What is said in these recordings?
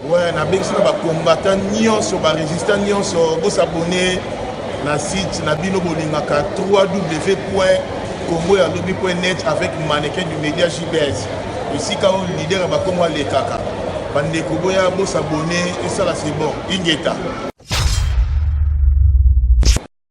Ouais, na bengisi na ba combattant nyonso ba resistant nyonso bo s'abonner na site na bino bolingaka 3w point congo ya lobi point net avec mannequin du média jbs esika oyo leader ya bakongo alekaka bandeko boya bo s'abonner esala c'est bon ingeta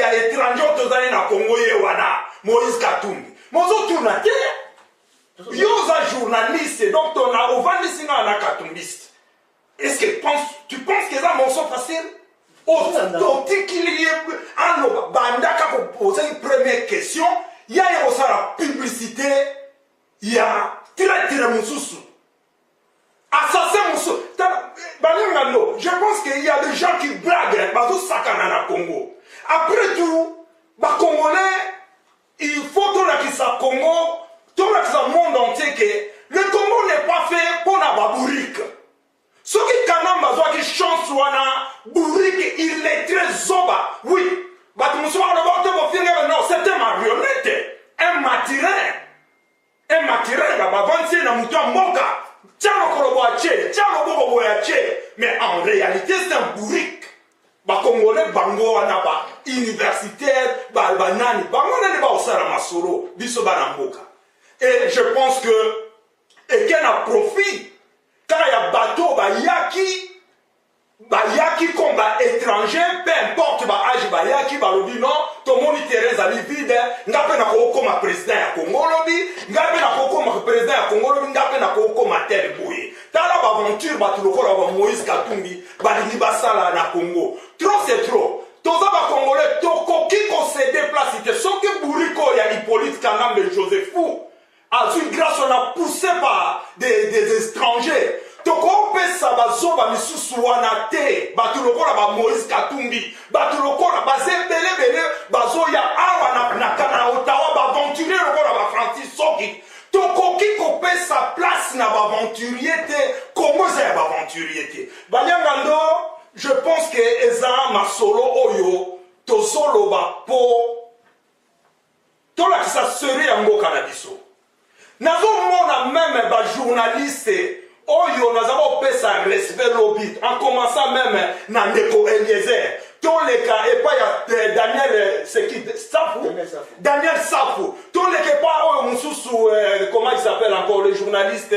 ya étranger tozali na congo ye wana moïse katumbi mozotuna te yo oza journaliste donc tona ovandisi ngaa na katumbiste est ce que pense, tu penses qu'eza morceau facile otikili ye aloba bandaka ozali première question ya ye kosala publicité ya traitre mosusu assassin mosusu tala balenga ndo je pense que il y a des gens qui blague bazosakana na congo après tout bacongolais il faut tolakisa congo tolakisa monde entier que le congo n'est pas fait mpo na babourike soki kanamba azwaki chance wana bourike illettre zoba oui bato mosusu bakoloba ote bofinga non c'est un marionnette un matirin e makiranga bavanzi ye na moto ya mboka tya lokolo boya tye tya loboko boya tye mais en réalité c'est un bourrique bakongole bango wana ba universitaire banani bango nani baosala masolo biso bana mboka et je pense que eke na profit kaka ya bato bayaki bayaki comme ba étranger peu importe ba age bayaki balobi non tomoni terrain ezali vide nga mpe nakokoma président ya congo olobi nga mpe nakokoma président ya congo olobi nga mpe nakokoma tel boye tala baaventure bato lokola ba moïse katumbi balingi basala na congo trop c'est trop toza bacongolais tokoki kosede place te soki buriko ya hippolyte kanambe josephu azwi grace wana pousse par des, des étrangers tokopesa bazoba misusu wana te bato lokola bamoïse katumbi bato lokola baza ebelebele bazoya awa na, na, na otawa baaventurier lokola bafrancis soki tokoki kopesa place na baaventurier te kongo eza ya baaventurier te balianga ndo je pense ke eza masolo oyo tozoloba po tolakisa seri ya mboka na biso nazomona meme bajournaliste oyo naza kopesa respect lobi en commençant meme na ndeko eliezer toleka epai ya eh, daniel eh, seki safu daniel safu toleka epai oyo mosusu eh, comment il s'appelle encore le journaliste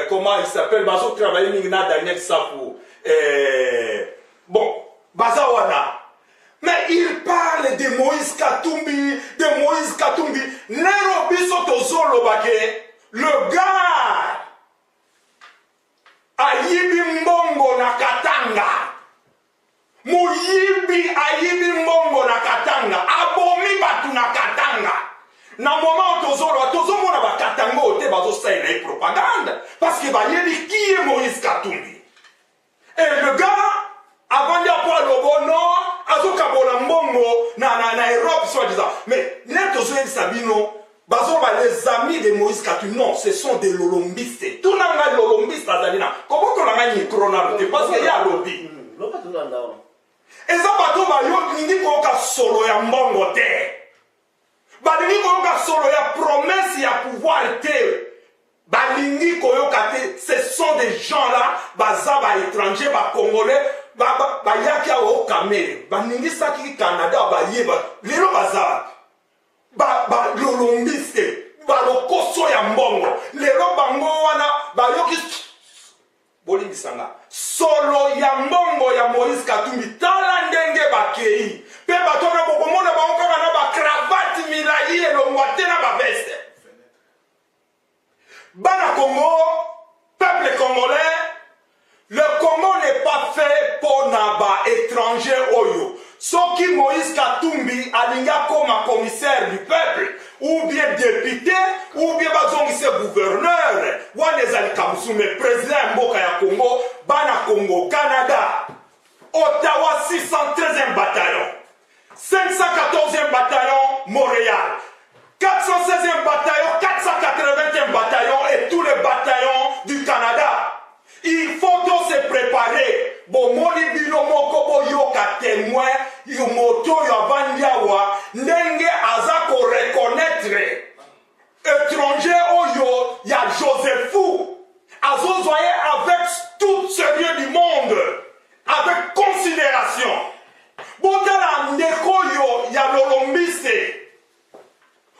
comment il s'appelle bazotravaille mingi na daniel safu bon baza wana Mais il parle de Moïse Katumbi, de Moïse Katumbi. Lelo biso tozoloba ke le gars ayibi mbongo na Katanga. Moyibi ayibi mbongo na Katanga, abomi bato na Katanga. Na moment tozoloba tozomona ba Katanga oyo te bazosalela ye propagande parce que bayebi qui est Moïse Katumbi. Et le gars avandi apo alobo no azokabola mbongo na, na, na europe soit disant mais nde tozoyebisa bino bazoba les amis de moïse katu non ce sont des lolombiste tuna ngai lolombiste azali na kobotola ngai mikro nano te parce que ye alobi eza bato bayo lingi koyoka solo ya mbongo te Balingi koyoka solo ya promesse ya pouvoir te. Balingi koyoka te. Ce sont des gens là baza ba étrangers ba congolais bayaki awa o kamere baningisaki canada bayeba lelo baza balolombiste balokoso ya mbongo lelo bango wana bayoki Bolimbisa nga. Solo ya mbongo ya Moïse Katumbi tala ndenge bakei pe bato wana bokomona bango kaka na ba cravate milayi elongwa te na ba veste. Bana Congo, peuple congolais, le Congo n'est pas fait pona ba étrangers oyo. Soki Moïse Katumbi alingi akoma commissaire du peuple ou bien député ou bien bazongise gouverneur, wana ezali kamusu mais président ya mboka ya Congo, bana Congo, Canada, Ottawa 613e bataillon, 514e bataillon Montréal, 416e bataillon, 480e bataillon et tous les bataillons du Canada. Il faut to se preparer bomoni bino moko boyoka temoin yo moto oyo avandi awa ndenge aza ko reconnaitre etranger oyo ya josephu azozwa ye avec tout sérieux du monde avec considération botala ndeko oyo ya lolombise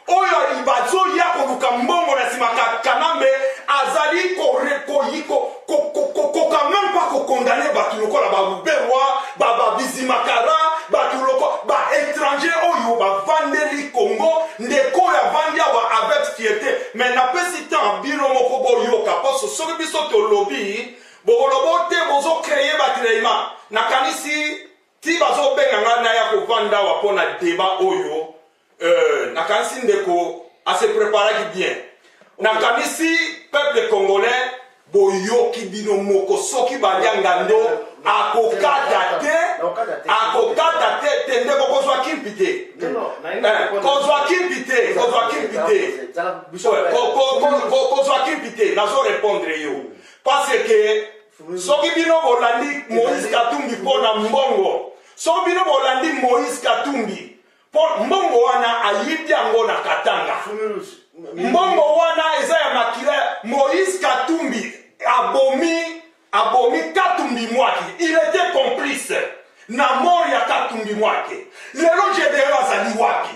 oyo bazoya koluka mbongo na nsima kanambe azali kokoka meme pas kokondane bato lokola baruberwa babizimakara bato loko baétranger oyo bavandeli congo ndeko oyo avandi awa avec fiete me napesi temps bino moko boyoka mposo soki biso tolobi bokolobo te bozokreye batrema nakanisi Ti bazo benga nga naya ko vanda awa mpo na debat oyo euh, nakanisi ndeko a se preparaki bien nakanisi peuple congolais boyoki bino moko soki balia ngando akokata te akokata te te nde bokozwa kimpi te kozwa kimpi te kozwa kimpi te kozwa kimpi te nazo répondre yo parce que Soki bino bolandi Moïse Katumbi mpo na mbongo, soki bino bolandi Moïse Katumbi mpo mbongo wana ayibi yango na Katanga, mbongo wana eza ya makila ya Moïse Katumbi abomi abomi Katumbi mwaki, il était complice na mort ya Katumbi mwaki. Lelo Gedeon azali wapi?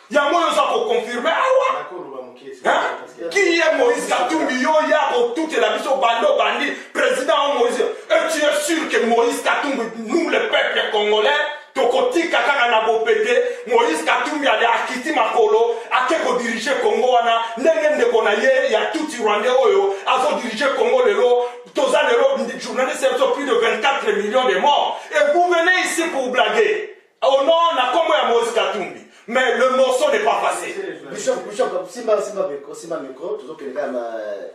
yango wana oza koconfirme awa kiye moïse katumbi yo ya kotutela biso bande obandi président o moïse et tu es sûr que moïse katumbi nous le peuple congolais tokotika kaka na bopete moïse katumbi ale akiti makolo ake kodirige congo wana ndenge ndeko na ye ya tuti rwandais oyo azodirige congo lelo toza lelo journaliste ya biso plus de 24 millions de morts et vous venez ici pour blaguer Oh non, na kombo ya Moïse Katumbi. Mais le morceau n'est pas passé. Bishop, Bishop, simba, simba, micro, simba, micro, toujours que les gars,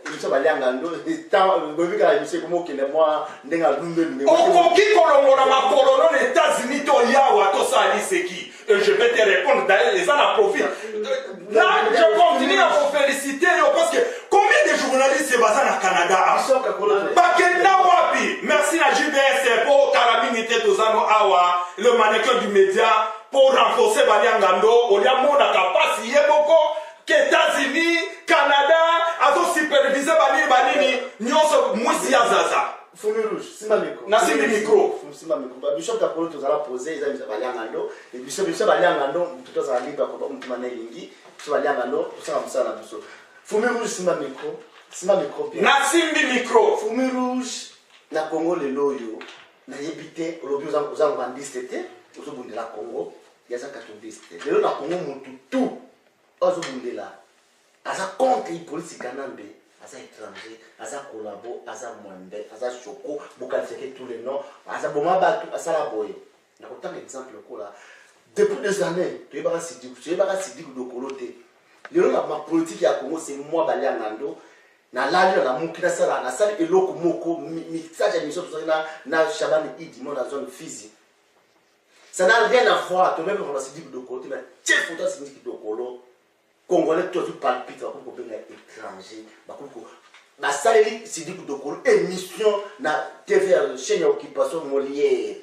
émission balianga, nous, tant, le but à l'émission, comment qu'il est moi, n'enga l'umbe, mais. Okoki kolongola makolo non États-Unis to yawa to sali seki. Et je vais te répondre d'ailleurs, les ana profit. Je continue à vous féliciter yo parce que combien de journalistes baza na Canada bakenda wapi merci na JBS po kala mingi te tozano awa le mannequin du média pour renforcer baliangando olia monaka mpasi ye moko ke États-Unis Canada azo supervise banini banini nyonso mwisi ya zaza Fulu rouge, simba micro. Na simbi micro. Simba micro. Ba bishop ta polo tozala poser eza bisa balianga ndo. Et bishop bishop balianga ndo mutu tozala libre ko ba mutu mana elingi. Bishop balianga ndo tosala musala na biso. Fumi rouge simba micro. Simba micro bien. Na simbi micro. Fumi rouge na Congo lelo oyo nayebi te olobi oza oza rwandiste te ozobundela Congo yaza katoliste lelo na Congo mutu tout azobundela aza contre ipolisi kanambe aza étranger aza collabo aza mwambe aza soko bokalifeke tous les noms aza boma bato asala boye nakotanga exemple lokola depuis des années toyebaka sidiku toyebaka sidiku dokolo te lelo na mapolitike ya congo se mwa baliangando nalali na namuki nasala nasali eloko moko mixage ya miso tozali na shabani idi mona zone fizi ça n'a rien à voir tomeme vraiment sidiku dokolo te na tie foto ya sidiku dokolo Congolais tout azwi palpite bakomi kobenga étranger bakomi ko basaleli Sidi Kudokolo émission na TV ya chaîne ya occupation Molière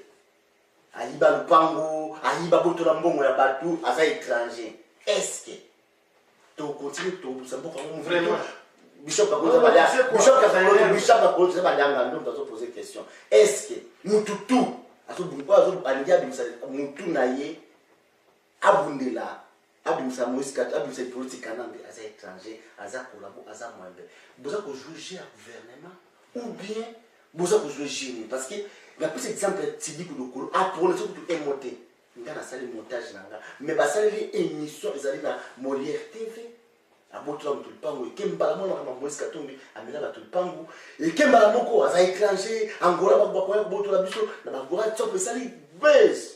ayiba lupango ayiba botola mbongo ya bato aza étranger est-ce que tokontinue tobusa mboka ngo vraiment bishop akoza bada bishop kafaloto bishop akoza eza badanga ndo moto azopose question est-ce que mutu tu alingi abimisa mutu na ye abundela abimisa moïse kati abimisa likolo ti kanambe aza étranger aza kolabo aza mwembe boza kojoue jeu ya gouvernement ou bien boza kojoue jeu nini parce que napesa exemple ya tidiku lokolo aprononce kutu emo te nga nasali montage na nga mais basaleli émission ezali na molière tv abotola moto lipangu eke mbala moko makambo ya moïse katumbi amela bato lipangu eke mbala moko aza étranger angola bakoya kobotola biso na bagora tsopo esali base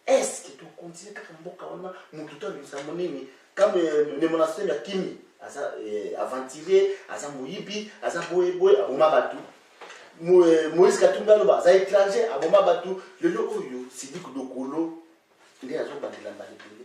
Est-ce que to continuer kaka mboka wana mutu to lisango nini kama euh, ne monastère ya kimi aza eh, aventurier aza moyibi aza boye boye aboma batu euh, Moïse Katumbi aloba aza étranger aboma batu lelo oyo Sidi Kudokolo nde azo bandela mbala ebele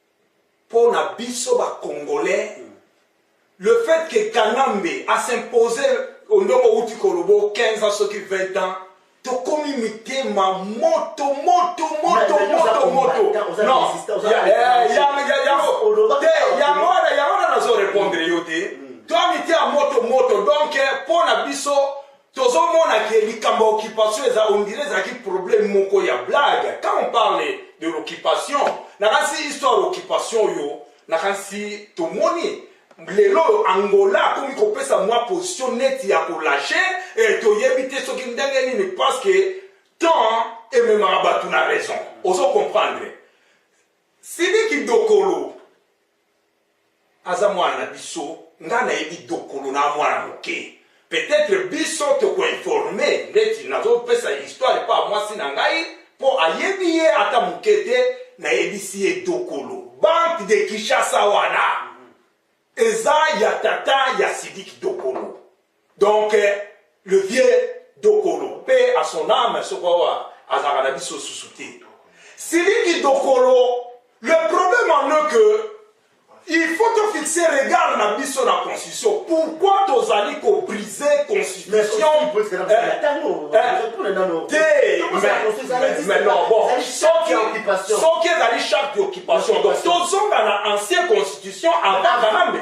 pona biso ba congolais le fait que kanambe a s'impose ondongo outi kolobo 15 ans soki 20 ans tokomi mitema moto moto moto moto moto yango wana nazo repondre yo te toa mitema moto moto donc mpo na biso Tozo mona que likambo ya occupation eza on dirait ezalaki problème moko ya blague. Quand on parle de l'occupation, nakanisi histoire occupation oyo nakanisi tomoni lelo oyo angola akomi kopesa mwa position neti ya kolashe eh, toyebi te soki ndenge nini parce que temps ememaka bato na raison ozo comprendre sidiki dokolo Aza mwana na biso nga nayebi dokolo na mwana moke peut etre biso toko informe ndeti nazo pesa histoire epa mwasi na ngai po ayebi ye ata moke te nayebisi ye dokolo banque de Kinshasa wana eza ya tata ya Sidiki dokolo Donc le vieux Dokolo, paix à son âme, ce quoi azalaka na biso susu te. Siliki Dokolo, le problème en est que il faut te fixer regard na biso na constitution pourquoi tozali kobrise constitution soki ezali charte d'occupation donc tozonga na ancien constitution avant kanambe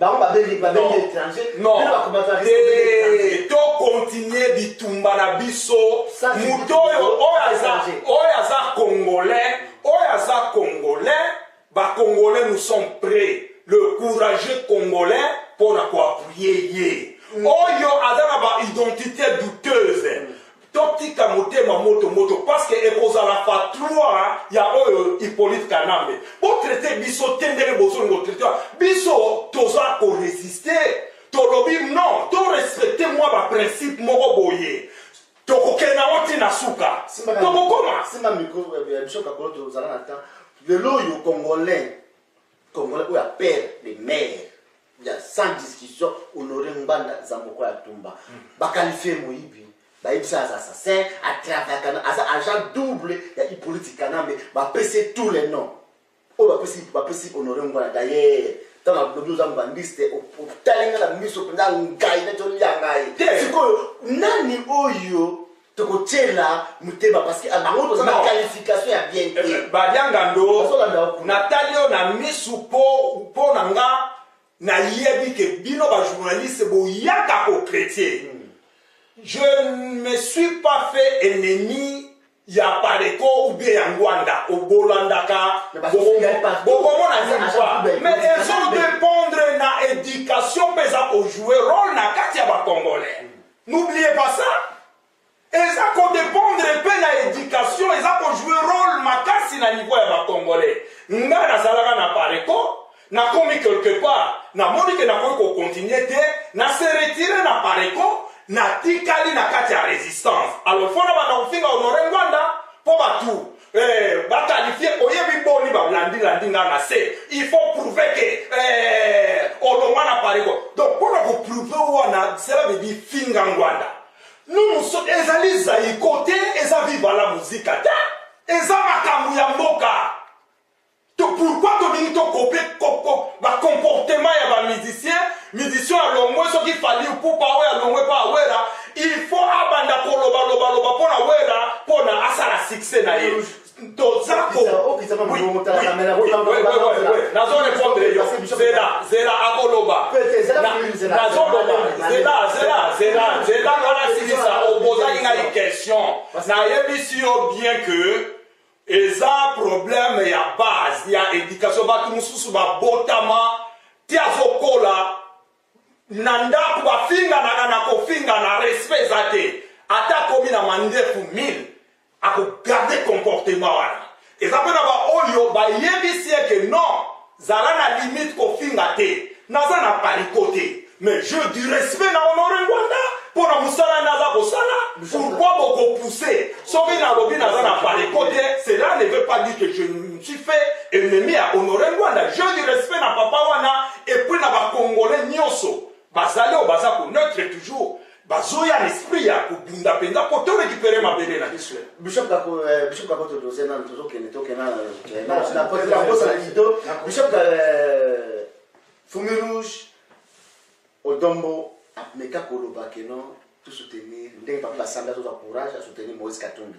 bango babengi babengi étranger Non. bino bakomata te étranger tokontinue bitumba na biso Sans moto bitumba, oyo oyo aza étranger. oyo aza congolais oyo aza congolais bacongolais nous sommes prêts le courageux congolais mpo na koappuye ye oyo aza na baidentité douteuse Totika motema moto moto parce que ekozala fatroa ya oyo Hyppolite Kanambe. Bo traiter biso te ndenge bozolinga ko traiter biso toza ko resister. Tolobi non, to respecter mwa ba principe moko boye. Tokokende yango ti na suka. Tokokoma. Simba micro ya biso kakolo tozala na temps. Lelo oyo congolais Congolais oyo a père de mère ya sans discussion Honore Ngbanda Zamboko ya Tumba mm. ba qualifier moyibi bayebisa aza assassin atravaka na aza agent double ya hippolyte kanambe bapesi tous les noms oyo bapesi bapesi honore ngwana d'ailleurs ntango alobi oza mbandiste otali ngai na miso mpenza ngai neti olia ngai sikoyo nani oyo toko tiela mutema parce que bango toza na qualification ya bien te eh, badianga ndo natali yo na misu po po na nga nayebi ke bino ba journaliste boyaka ko chrétien hmm. je ne me suis pas fait ennemi ya pareko ou bien ya ngwanda obolandaka bokomona zilva mais ezo dépendre na éducation mpe eza kojoue role na kati ya bacongolais hmm. N'oubliez pas ça. Eza ko dépendre pe na éducation, eza ko jouer rôle makasi na niveau ya ba Congolais. Nga nazalaka na Pareco, nakomi quelque part, namoni ke nakoki ko continuer te, na se retirer na Pareco, natikali na kati ya resistance. Alors fona banda kofinga Honore Ngwanda po batu Eh, ba qualifie oyebi boni balandi landi nga na se il faut prouver ke eh, olongwa na pareko donc mpona koprouve wana cela veut dire finga ngwanda numuso ezali zaiko te eza viva la muzika te eza makambo ya mboka To pourquoi tolingi to copier ba comportement ya ba musiciens, musicien alongwe soki Fally Ipupa oyo alongwe pa Wera, il faut abanda koloba loba loba pona Wera pona asala succès na ye. Toza ko nazo répondre yo zela zela akoloba nazo loba zela zela zela zela ngana silisa obozaki ngai question nayebisi yo bien que eza problème ya base ya éducation bato mosusu babotama ti azokola na ndako bafinganaka na kofingana respect eza te ata akomi na mandefu 1000 akogarde comportement wana eza mpe na baoyo bayebisi eke non Zala na limite kofinga te naza na pariko te mais jeu du respect na honore ngwanda mpo na mosala nde aza kosala pourkoi bokopousse soki nalobi naza na pariko te cela ne veut pas dire que je me suis fait ennemi ya honore ngwanda jeu du respect na papa wana epuis na bacongolais nyonso bazali oyo baza koneutre toujours Bazoya na esprit ya kobunda penza po to recupere mabele na biso. Bishop kako eh, bishop kako to doze na tozo kende to kena na eh, na na ko la bosa na kito. Bishop ka eh, fumi rouge odombo ameka koloba que non to soutenir ndenge papa basanda to courage à soutenir Moïse Katumbi.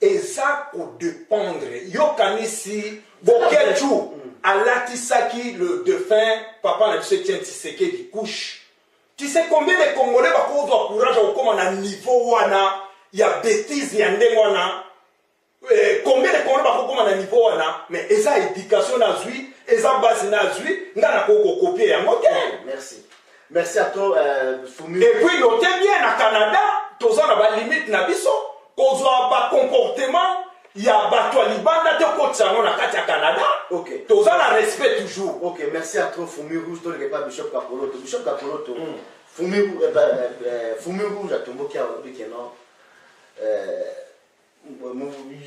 eza ko dependre yo kanisi boketshu mm. alatisaki le defunt papa na biso etienne tisekedi couche tu sais combien de congolais bakozwa courage ya kokoma na niveau wana ya betise ya ndenge wana eh, combien de congolais bakokoma na niveau wana mais eza éducation nazwi eza base nazwi ngai nakoki kokopie yango te merci Merci à toi, euh, Fumi. Et puis, notez bien, na Canada, toza na ba limite na biso, kozwa ba comportement ya bato ya libanda te okotisa yango na kati ya canada okay. toza na respect toujours okay, merci à trop fumi rouge toleke pa bishop kapoloto bishop kapoloto mm. fumi, eh, eh, eh, fumi rouge atomboki aolobi ke non eh,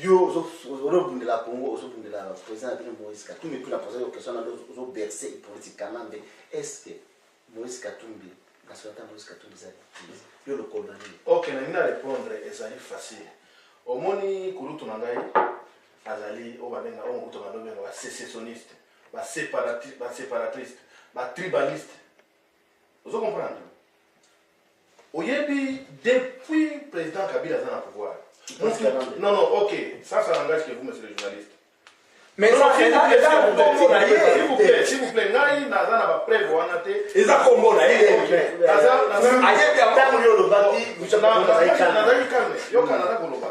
yo ozobundela congo ozobundela président na bino moïse katumbi mpona posa yo question nano ozoberse politique kanambe est ce que moïse katumbi nationalité ya moïse katumbi ezali yo lokolo na nini ok nalingi na répondre ezali facile omoni kulutu na ngai azali oyo babenga oyo mokutu balobenga basecessionniste baseparatriste batribaliste ozo comprendre oyebi depuis président kabila aza na pouvoir non non ok ça ça langage que vous monsieur le journaliste mais ça c'est là déjà kombo na ye s'il vous plaît s'il vous plaît ngai naza na ba preuve wana te eza kombo na ye ayebi yango yo olobaki nazalaki calme yoka naza koloba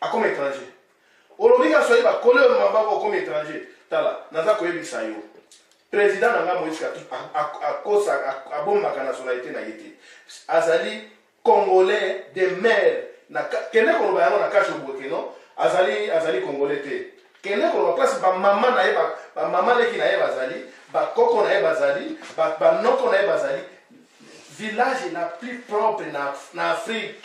Akoma etranger. Olobi ka soyi ba kole yo mabako okomi etranger. Tala, naza koyebisa yo. President na nga Moïse Katumbi akosa abombaka nationalité na ye te. Azali congolais de mère. Na kende koloba yango na kashi obweke non? Azali azali congolais te. Kende koloba place ba mama na ye ba, ba mama leki na ye bazali, ba koko na ye bazali, ba, ba noko na ye bazali. Village la plus propre na, na Afrique.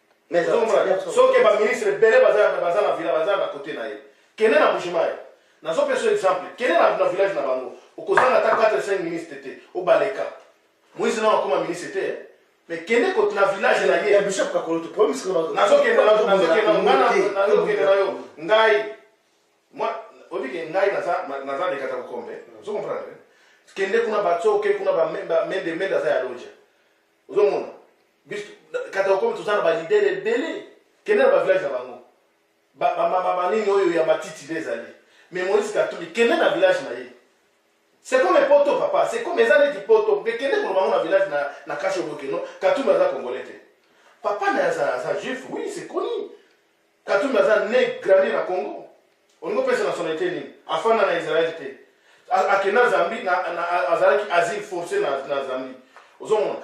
Mais Ozo komona bien, ozo- soki ba ministre ebele baza baza na villa baza na kote na ye. Kende na Bujimayi. Nazo pesa yo exemple. Kende na na village na bango. Okozanga ata 4 5 ministre te. Obaleka. Moise na akoma ministre te. eh. Mais kende kote na village na ye. Ya bishop kakoloto problème c'est que nazokende na- nazokende na- nga na- nazokende na yo ngai mwa obike ngai naza na- naza lekata kokombe ozo comprendre kende kuna bato oke kuna ba me- ba mende mende aza ya loja ozomona biso kata okomi toza na balidere ebele kende na bavillage na bango banini oyo ya matiti nde ezali mais moïse katuli kende na village na ye c'est comme poto papa c'est comme eza neti poto mpe kende koloba ngo na village na, na kasho bokeno katuli aza congolais te papa na aza, aza juif oui c'est connu Katumbi aza ne grandi na Congo olingi opesa nationalite nini? Afanda na Israel te, akenda Zambie na, na azalaki asile force na, na Zambie. Ozomona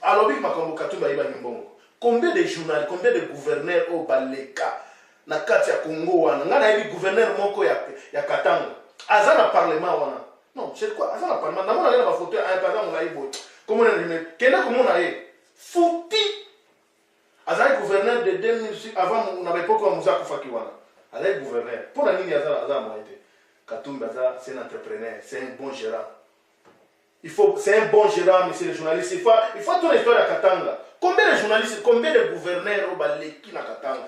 alobi makambo Katumbi ayibaki mbongo. Combien de journal, combien de gouverneur oyo baleka na kati ya Congo wana? Ngai nayebi gouverneur moko ya, ya Katanga aza na parlement wana non c'est quoi aza na parlement namona ye na bafoto ya aza molai boye komona rime kende komona ye futi Azalaki gouverneur de 2000 avant na ba epoque wa Muza akufaki wana. Azalaki gouverneur. Mpo na nini aza aza moyen te? Katumbi aza c'est un entrepreneur, c'est un bon gérant. Il faut c'est un bon gérant monsieur le journaliste. Il faut il faut ton histoire ya Katanga. Combien de journalistes, combien de gouverneurs au baleki na Katanga?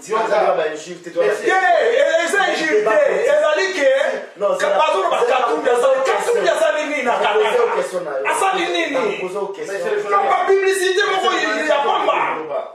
eza injure te ezali ke bazoloba katumbi asali katumbi asali nini na kanada asali nini bapublicité moko ya pamba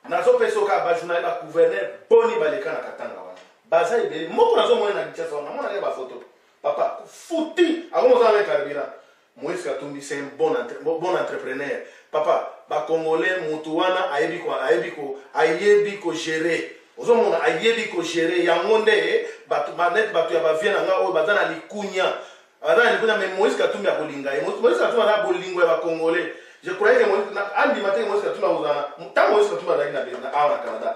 nazopesa oka bajournali bagouverneur boni baleka na katanga wana baza ebele moko nazomona na kinshasa wana namonaka bafoto papa futi akomozala na carburant Moise katumbi c'est un bon, entre, bon entrepreneur papa ba congolais mutu wana ayebi ko ayebi ko ayebi ko gérer ozomona ayebi ko gérer yango nde bato banete bato ya bavie na ngai oyo baza na likunya baza na likunya mais moise katumbi akolinga ye moise katumbi aza bolingo ya bacongolais je croyais que moise andima te moise katumbi akozala ntango moise katumbi azalaki na awa na canada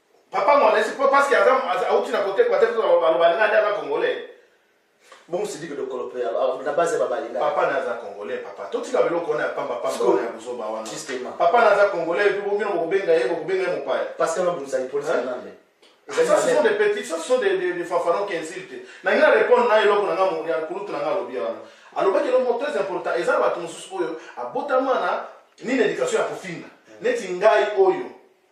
Papa Mwanesi, po parce que aza auti na kote kwate biso baloba linga nde aza congolais. Bongo sidiki dokolo pe na base ba balinga. Papa na aza congolais papa. Totika biloko wana ya pamba pamba wana ya buzoba wana. Justement. Papa na aza congolais pe bomino bokobenga ye bokobenga ye mopaya. Parce que na bundisa ipolisi na nande. Ça, ce sont des petits, ça, ce sont des, des, des fanfarons qui insultent. Na ngai répondre na eloko na ngai ya kulutu na ngai alobi wana. Alobaki eloko très important, eza bato mosusu oyo abotama na nini éducation ya kofinga. Neti ngai oyo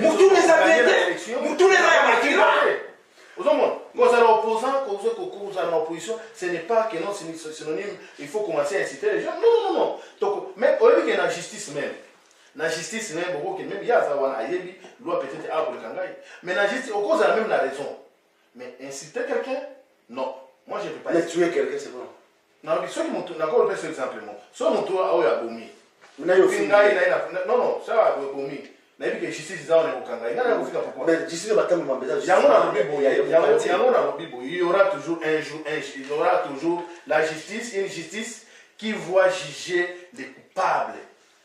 motuna eza bien te motuna eza ya makila ozomona kozala opposant kozala na opposition ce n'est pas que non synonyme il faut commencer à inciter les gens non non non toko mais oyebi ke na justice même na justice même okoke même ye aza wana ayebi loi peut-être akoleka ngai mais na justice okozala même na raison mais inciter quelqu'un non moi je peux pas mais tuer quelqu'un c'est bon nalobi soki motu nakolo pesa exemple moko soki motu oyo abomi nayoki ngai naye non non sala abomi nayebi ke justice eza wana ekokanga ye ngai nakofika pourquoi justice batambo mambe eza yango nalobi boye yango nalobi boye il y aura toujours un jour un il y aura toujours la justice une justice qui voit juger les coupables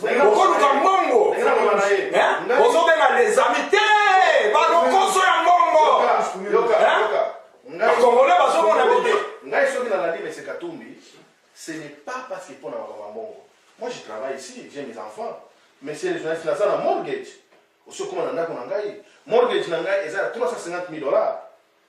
okoluka mbongo ozobenga les amis te balokoso ya mbongo bakongole bazomona bete ngai soki nalandi mese katumbi ce n'est pas parce que mpo na makambo ya mbongo moi je travaille ici j'ai mes enfants mais c'est les journalistes naza na mortgage osi okoma na ndako na ngai mortgage na ngai eza ya 350 000 dollars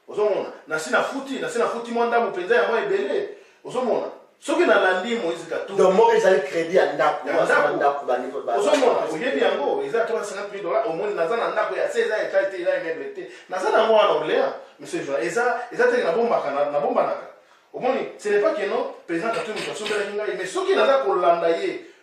Ozomona, nasi nafuti, nasi nafuti mwa ndambo mpenza ya mwa ebele. Ozomona, soki nalandi Moïse Katumbi. Donc moko ezali credit ya ndako, ya ndako, ndako ba niveau ba. Ozomona, oyebi yango, eza 350 000 dollars, omoni naza na ndako ya 16 ans etage te, eza immeuble te. Naza na mwa na Orléans, monsieur Joa, eza eza te na bombaka na, na bombanaka. Omoni, ce n'est pas que non, président Katumbi asombelaki ngai, mais soki naza kolanda ye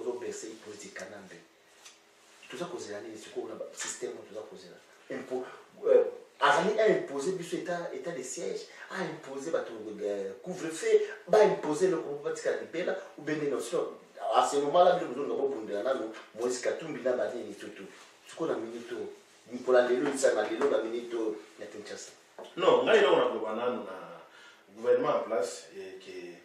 ozo berce hypocrite ya kanambe toza kozela nini sikoyo na système oyo toza kozela euh, azali aimpose biso état de siège aimpose bato euh, couvre feu baimpose eloko moko batika libela ubende notion à ce moment là bino bozonga bobundela nano moise katumbi na banini tutu sikoyo na minute oyo mpola lelo lisanga lelo na minute oyo na kinshasa non ngai eloko nakoloba nano na gouvernement en place ke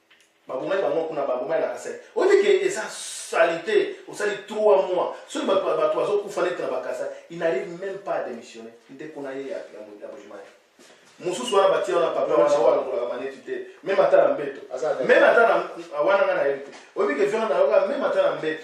babomaki bango kuna babomaki na kasai oyike eza salite osali 3 mois soki bato bazokufa neti na bakasa il n'arrive même pas à démissionner ndeko na ye ya bojimai mosusu wana batia wana papa wana oyo alokolaka maneti te meme ata na mbeto meme ata wana nga na yebi te oyebike viande nayoka meme ata na mbeto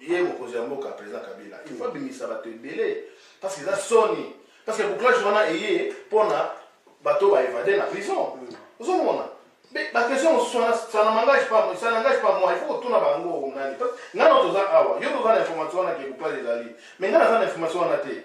ye mokonzi ya mboka president kabila il faut abimisa bato ebele parce que eza soni parce que bouclage wana eye mpona bato baevade na prison ozomona baquestion mosusu wana ça na mangage pas ça n'engage pas moi il faut kotuna bango nani ngai na toza awa yo toza na information wana ke bouclage ezali mais ngai naza na information wana te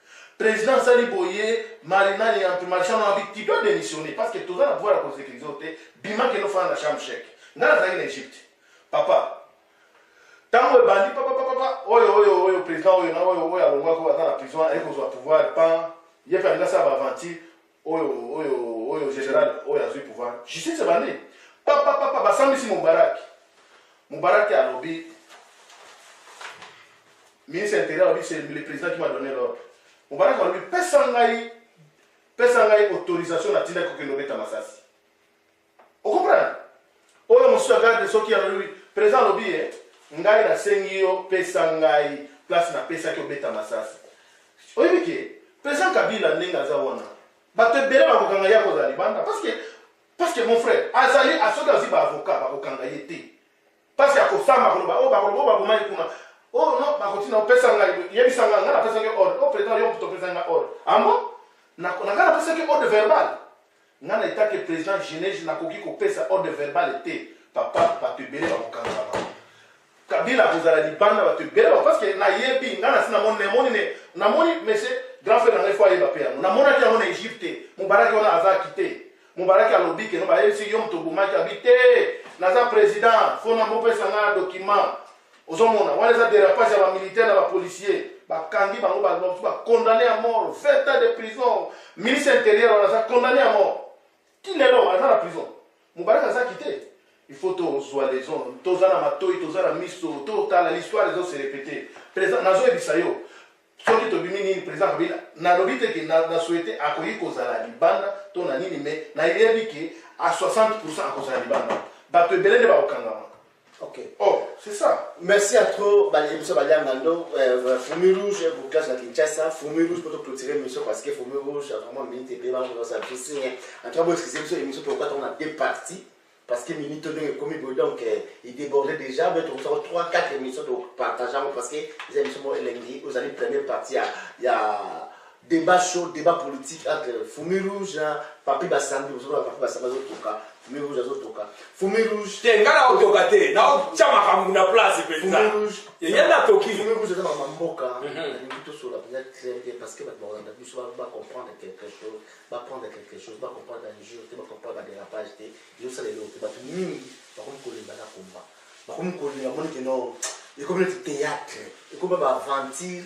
President asali boye Marina et entre Marchand na bi tu dois démissionner parce que toza na pouvoir ya ko sécuriser yo te bima kende ofanda na chambre chèque nga nazalaki na Egypte papa ntango ebandi papapapa oyo oyo oyo président oyo na oyo oyo alongwaki oyo aza na prison aye kozwa pouvoir pan ye mpe alingi asala baaventure oyo oyo oyo general oyo azui pouvoir justice ebandi papa papa basambisi mubaraki mubaraki alobi ministre intérieur alobi c'est le président qui m'a donné l'ordre mubaraki alobi pesa ngai pesa ngai autorisation natindaki kokende obeta masasi O comprendre? Oyo mosusu ya garde soki alobi president alobi ye ngai nasengi yo pesa ngai place napesaki obeta masasi. Oyebi ke president Kabila ndenge aza wana bato ebele bakokanga ye akozala libanda parce que parce que mon frère azali soki azwi ba avocat bakokanga ye te. Pasi ya kosamba koloba oh bakoloba oh baboma ye kuna. Oh non bakotina opesa ngai yebisa ngai ngai napesa ngai ordre. Oh president yo moto opesa ngai ordre. Ambo na ngai napesa ngai ordre verbal. Ngai na etake president Genèse nakoki kopesa ordre verbal te. Papa bato ebele bakokanga bango. Kabila akozala libanda bato ebele bango parce que nayebi ngai nasi namoni namoni ne namoni monsieur grand frère na ngai fo ayeba mpe yango namonaki yango na Egypte mobaraki wana aza kite Mubaraki alobi keno bayebisi yo moto obomaki abi te naza president fona mopesa nga document ozomona wana eza derapage ya bamilitaire na bapolicier bakangi bango bamosusu bacondamne ya mort 20 ans de prison ministre intérieur wana aza condamne ya mort ti lelo aza na prison mubaraki azaki te il faut tozwa leson toza na matoi toza na miso totala l'histoire ezo se repete nazoyebisa yo Soki tobimi nini president Kabila nalobi te ke na, na souhaite akoki kozala libanda to na nini mais nayebi ke a 60% akozala libanda bato ebele nde bakokangama Ok. Oh, c'est ça. Merci à trop, Baliemso Baliangando, euh, Fourmi Rouge, pour classe à Kinshasa, Fourmi Rouge pour clôturer l'émission parce que Fourmi Rouge a vraiment minute et bien, on va s'en En tout cas, vous excusez-moi, l'émission pourquoi on a deux parties. parce que minute oyo ndenge ekomi boye donc euh, ideborde déjà mais tokosako 3 4 émission topartage yango parce que eza émission moko elengi ozali première partie ya, ya débat chaud débat politique entre fumi rouge na papi basambi ozokola papi basambi azotoka fumi rouge azotoka fumi rouge te nga naotoka te naotya makambo na place mpenza yeye natoki fumi rouge eza makambo mboka mhm. nalingi tosola mpenza très bien parce que bato bakolanda biso bacomprendre quelque chose ba prendre quelque chose ba comprendre ba injure te ba comprendre ba dérapage te yo sala eloko te bato mingi bakomi kolemba na combat bakomi kolemba bamoni ke no ekomi neti théâtre ekomi ba aventure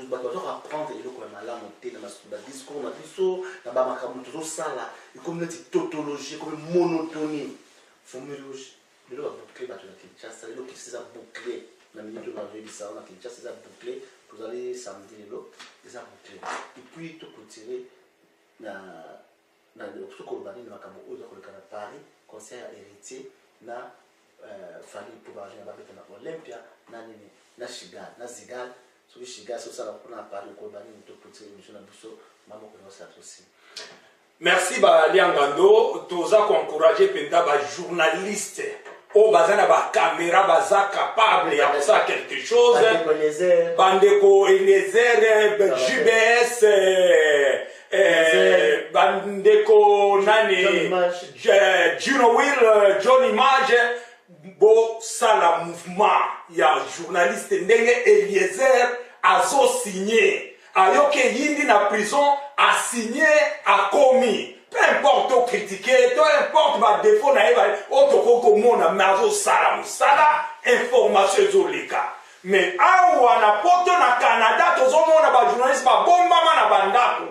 bato baza koapprendre eloko ya malamu te na badiscours na biso na bamakambo tozosala ekomi neti tautologie ekomi monotonie fomi rouge Lelo ba boucle batu na Kinshasa lelo Kinshasa eza boucle na minute oyo nazo yebisa yo na Kinshasa eza boucle tozali samedi lelo eza boucle et puis to clôturer na na soki koloba nini makambo oyo eza koleka na Paris concert ya Heritier na euh, Fally mpo bazo na babeta na Olympia na nini na Chigal na Zigal soki Chigal soki sala kuna na Paris okoloba nini to clôturer émission na biso mamoko na osala tosi Merci ba liangando toza ko encourager penza ba journalistes oyo oh, baza na bakamera baza capable ya kosala quelque chose bandeko eliezer jbs eh, eh, bandeko nani juno will eh, john image bosala mouvement ya journaliste ndenge eliezer azosigne ayoki eyindi na prison asigne akomi peu importe to kritike to importe badefo na ye oyo oh, tokoki komona me azosala mosala information ezoleka me awa na poto na canada tozomona bajournaliste babombama na bandako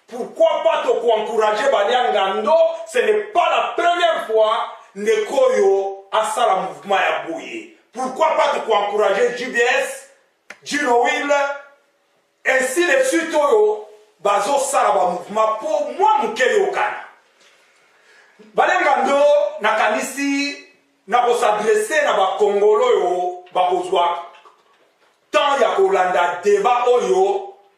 pourquoi pas tokoencourage baliangando ce n'est pas la première fois ndeko oyo asala mouvement ya boye pourquoi pas tokoencourage gbs Girohuile ainsi de suite oyo bazosala ba mouvement mpo mwa moke eyokana balenga ndo nakanisi na kosadresse na bakongolo oyo bakozwa temps ya kolanda deba oyo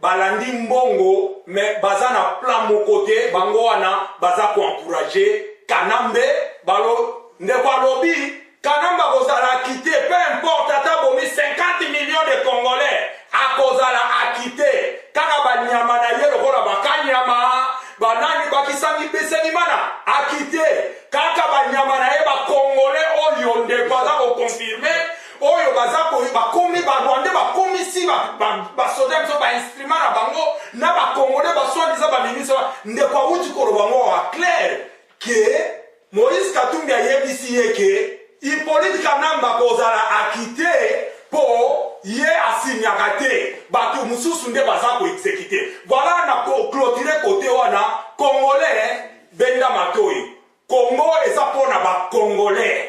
balandi mbongo me baza na plan moko te bango wana baza koencourage kanambe balo ndeko alobi kanambe akozala akite peu importe ata bomi 50 million de congolais akozala akite kaka banyama na ye lokola bakanyama banani bakisangi bisenimana akite kaka banyama na ye bakongole oyo ndeko aza kokonfirme oyo baza koyo bakomi barwandais bakomisi basoda biso bainstrument na bango na bacongolais baswadiza baministre ndeko awuti koloba ngo wa claire ke moïse katumbi ayebisi ye ke hippolite kanamba kozala akite mpo ye asinyaka te bato mosusu nde baza koexekite voilà na clotire kote wana congolais benda matoi congo eza mpo na bacongolais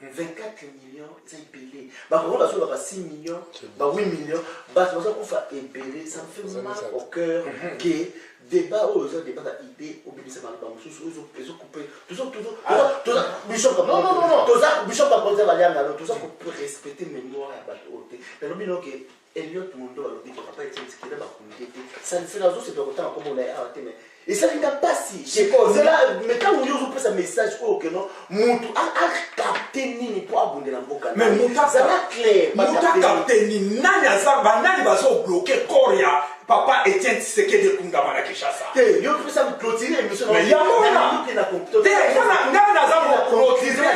mais 24 millions eza ebele bakoko bazolaka 6 millions ba 8 millions bato bazokufa ebele ça me fait mal au cœur mhm. que débat oyo eza débat na idée obimisa maloba mosusu ezokoupe bishop bakonzi ya baliangano toza korespecte mémoire ya bato oyo te nalobi noke Elliot Mondor alobi que papa Etienne Tshisekedi ba communiquer te. Ça ne sera juste de kotanga kombo na ye awa te mais ezali nga mpasi kozela me ntango yo ozopesa message oyo keno motu akapte nini mpo abundela mboka zala clair motu akapte nini nani aza banani bazobloke corps ya Papa Etienne Tshisekedi ekundama na Kinshasa. Te, yo pesa mi clôturer émission na. Mais yango wana. Te, wana ngai naza ko clôturer.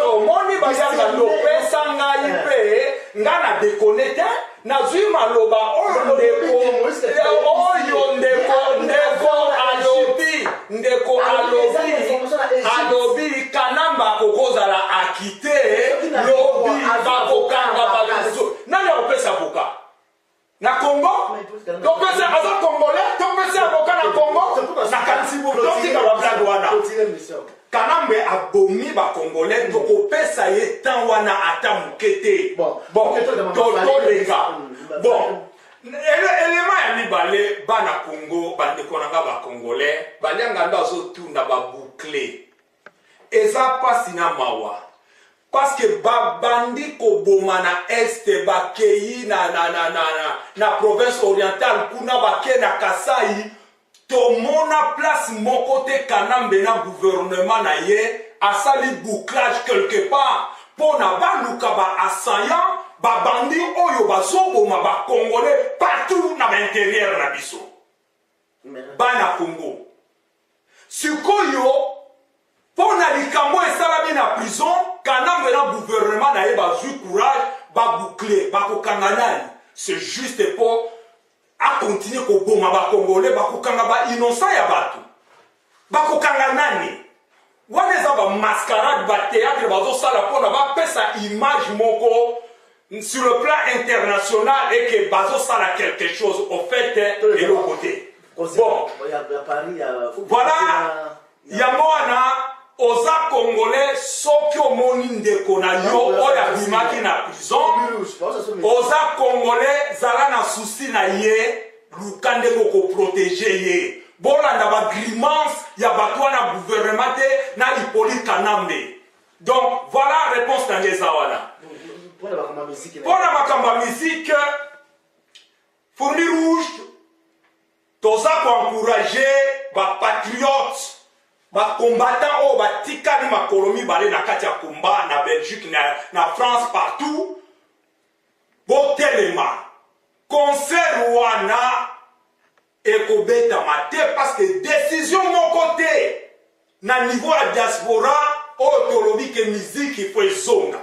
Omoni bayanga lopesa ngai eh. mpe ngai na dekone te nazwi maloba oyo ndeko oyo ndeko ndeko alobi ndeko alobi alobi kanamba kokozala akite lobi bakokanga bato nani akopesa boka na congo topesa aza congolais topesa avoka na congo totika bablage wana kanambe abomi bacongolais tokopesa ye temps wana ata moke te totoleka bon elema ya mibale bana congo bandeko na nga bacongolais balianga ndo azotuna baboucle Eza pasi na mawa parceque ba bandi koboma na est bakeyi na, na, na, na, na, na province orientale kuna bake na kasai tomona place moko te kanambe na gouvernement na ye asali bouclage quelque part mpo na baluka ba assaillant babandi oyo bazoboma bacongolais partout na bainterieur na biso bana congo Sikoyo mpo na likambo oyo esalami na prison, Kanambe na gouvernement na ye bazwi courage ba boucler, bakokanga nani? C'est juste mpo a continuer koboma ba Congolais, bakokanga ba innocents ya bato, bakokanga nani? Wana eza ba mascarade ba theatre bazosala mpona bapesa image moko sur le plan international et que bazosala quelque chose au fait eloko te bon voilà yango wana oza congolais soki omoni ndeko na yo oyo abimaki na prison oza congolais zala na susi na ye Luka ndenge oko proteger ye. Bolanda ba grimances ya batu wana gouvernement te na Hyppolite Kanambe. Donc voilà reponse na ngai eza wana. Pona makambo ya musique Fourmi Rouge toza ko encourager ba patriotes bakombata oyo batikali makolo mibale na kati ya komba na belgique na, na france partout Botelema concert wana ekobetama te parce que decision moko te na niveau ya diaspora oyo tolobi ke miziki fo ezonga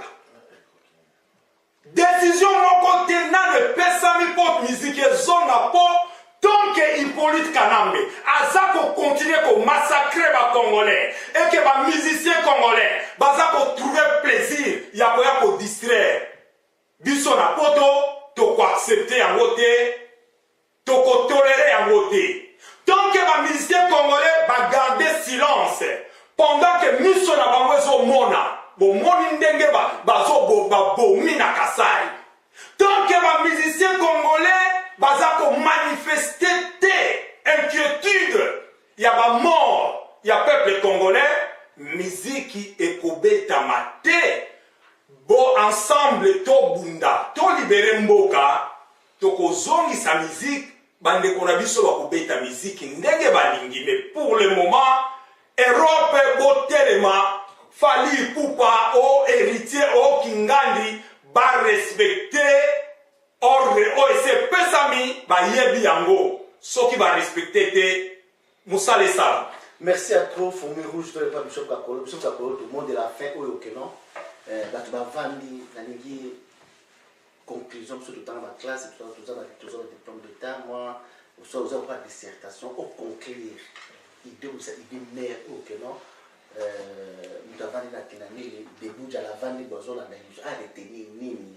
decision moko te nano epesami mpo miziki ezonga mpo tonke hippolyte kanambe aza kokontinue komassacre bacongolais eke bamusicien congolais baza kotrouve plaisir ya koya kodistraire Biso na poto toko accepter yango te, toko tolerer yango te. Tant que ba musiciens congolais ba garder silence pendant que miso na bango ezo mona, bomoni ndenge ba bazo ba bomi na Kasai. Tant que ba musiciens congolais baza ko manifester te inquiétude ya ba mort ya peuple congolais miziki ekobetama te bo ensemble tobunda tolibere mboka tokozongisa miziki bandeko na biso bakobeta miziki ndenge balingi mais pour le moment europe botelema fali pupa o oh, héritier o oh, kingandi barespecte Ordre oyo esi epesami bayebi yango soki ba respecte te musala esala. Merci à trop fourmi rouge to epa bishop kakolo bishop kakolo tout monde de la fin oyo okeno eh, bato bavandi nalingi conclusion biso totanga baclasse toza na diplôme d'état moi oza oza koka dissertation oconclure idée oza idée mare oyo keno moto avandi na kinamili debut jala avandi bo azolanda biso aretenir nini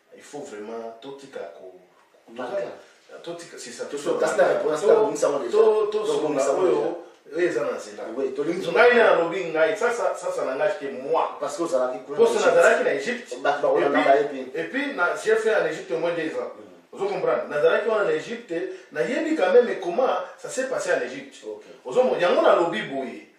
Il faut vraiment totika ko totika c'est ça tosunga kasi na repona sika tobongisa yango deja tosunga oyo oyo eza na nzela ngai na nalobi ngai sasa sasa na ngai ke moi parce que ozalaki kuna poso nazalaki na Egypte bato bakola na baye puis et puis na j'ai fait en Egypte moins deux ans mm. ozo comprendre nazalaki wana na Egypte nayebi quand même comment ça s'est passé en Egypte ozo yango nalobi boye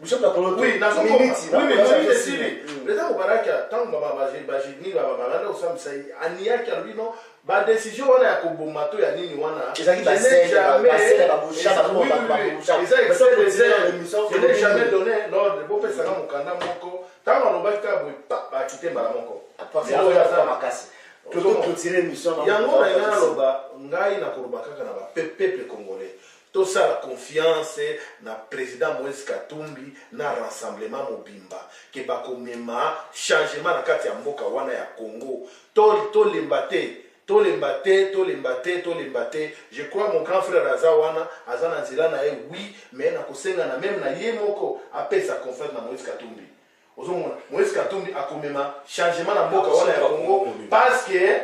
bishop na koloto oui na soko minute oui mais minute esili mm. leta kobalaki tango ba ba ba jini ba ba landa osambisa ye aniyaki alobi non ba décision wana ya koboma to ya nini wana ezalaki ba sele ba sele ba boucha ba boucha ba boucha eza excès de zèle je n'ai jamais donné l'ordre bo pesa na mukanda moko tango alobaki ka boye ba kite mbala moko parce que ya za makasi tozo clôturer mission yango na ngai naloba ngai nakoloba kaka na ba peuple congolais Tosala confiance na president Moise Katumbi na rassemblement mobimba que bakomema changement na kati ya mboka wana ya Congo. To tolemba te, tolemba te, tolemba te, tolemba te. Je crois mon grand frère aza wana, aza na nzela na ye oui, mais nakosenga na meme na ye moko apesa confiance na Moise Katumbi. Ozomona Moïse Katumbi akomema changement na mboka wana ya Congo parce que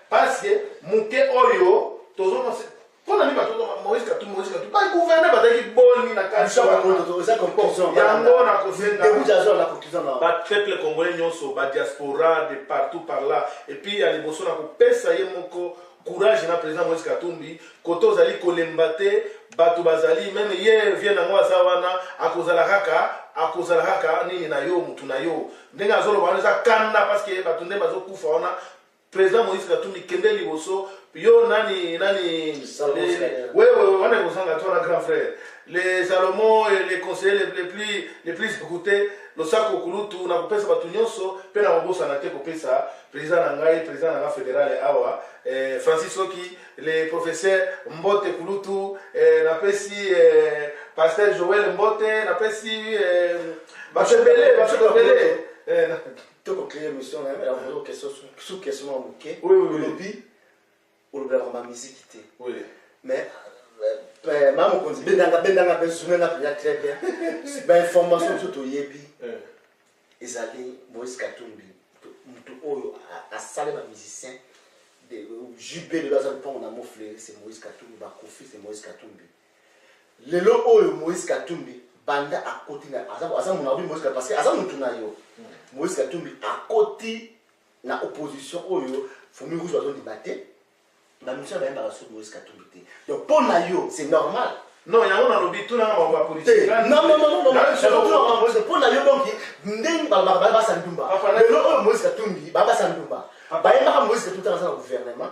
parce que muke oyo tozomona mpo na nini bato moïse katumbi moïse katumbi bagouverner bazalaki boni na katiyango nakosengabapeple congolais nyonso badiaspora de partout par là epuis ya liboso na kopesa ye moko Courage na president Moïse Katumbi koto ozali kolemba te bato bazali meme ye vie na ngo aza wana akozala kaka akozala kaka nini na yo motu na yo ndenge azoloba wana eza kanda parce que bato nde bazokufa wana president Moïse Katumbi kende liboso yo nani nani wewe wana ekozanga to na grand frère Le Salomo est le conseiller le, le plus, le plus écouté. Losako kulutu na kopesa bato nyonso mpe na kobosana te kopesa president na ngai president na ngai federale awa eh, Francis Oki le professeur Mbote kulutu eh, napesi eh, pasteur Joël Mbote napesi eh, bato ebele bato ebele eh, na- tokoklee émission na ye mais yango question sous question ya moke Oui, oui, oui. olobi olobelaka ma miziki te mais eh, ma mokonzi bendanga bendanga mpe zuna na mpenza très bien bainformation mosusu toyebi eh. ezali moïse katumbi moto oyo asali bamusicien jb lelo aza lopango na mofleri se moïse katumbi bakofi se moïse katumbi lelo oyo moïse katumbi banda akoti aza monabi moïse parce que aza motu na yo hmm. moïse katumbi akoti na opposition oyo fumi rouge bazo ndima te ba mission ba yamba su Moïse Katumbi te donc pour na yo c'est normal non yango nalobi tuna na bango ya politique eh, non non non non non pour na yo donc ndenge ba ba ba ba sandumba lelo oyo Moïse Katumbi ba ba sandumba ba yamba Moïse Katumbi tanga na gouvernement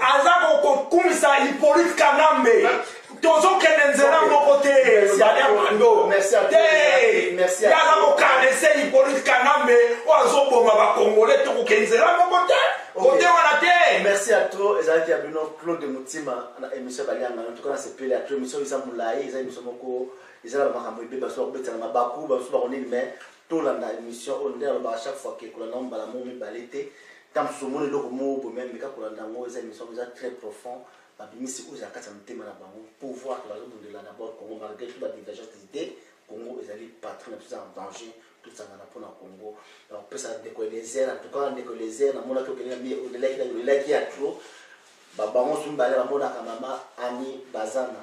aza kokumisa Hippolyte Kanambe tozokende nzela moko te ezali abando te yaza kokanese Hippolyte Kanambe oyo azoboma bakongole tokokende nzela moko te kote wana te merci à trop ezalaki ya bino Claude Mutima na émission balianga en tout cas na sepele après émission eza molai eza émission moko eza na makambo ebeba so bakobetana mabaku basusu bakonini mais tolanda émission oyo nde alobaka chaque fois ke kolanda mbala moko mibale te Ata mosusu omoni eloko moko boye mais meka kolanda yango eza emission eza très profond babimisi oyo eza na kati ya motema na bango pouvoir te bazobundela na bord congo malgré tout badivergence des idées congo ezali patrie na biso eza na danger tosangana mpo na congo nakopesa ndeko elezer en tout cas ndeko elezer namonaki okende na mie olelaki na olelaki ya trop babango so mibale bamonaka mama ani bazana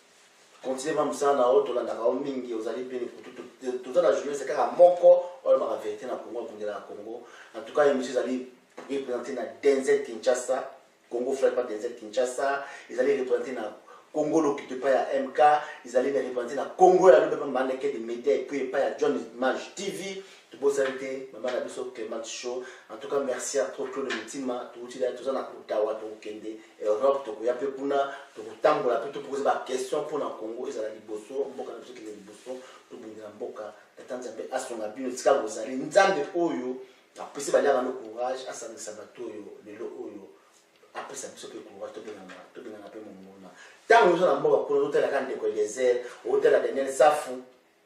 Continue ma musala na yo tolandaka yo mingi ozali bien ekutu toza na journaliste kaka moko olobaka verité na Congo akundelaka Congo en tout cas émission ezali représenter na Denzel Kinshasa Congo frère pas Denzel Kinshasa ezali représenter na Congo l'occupe pas ya MK ezali na représenter na Congo ya lobe mama na kede media et puis pas ya John Maj TV tobosani te mama na biso Clement Show en tout cas merci à trop Claude Mutima touti là toza na kutawa tokende Europe tokoya mpe kuna tokotambola mpe topokoza ba question mpo na Congo ezala liboso mboka na biso kende liboso tobundela mboka tata Nzambe asunga bino esika bozali Nzambe oyo apesi baliaka no courage asangisa bato oyo lelo oyo apesa biso mpe courage tobengana tobengana mpe monguna ntango oza na mboka kuna ozotalaka ndeko Eliezer otala Daniel Safu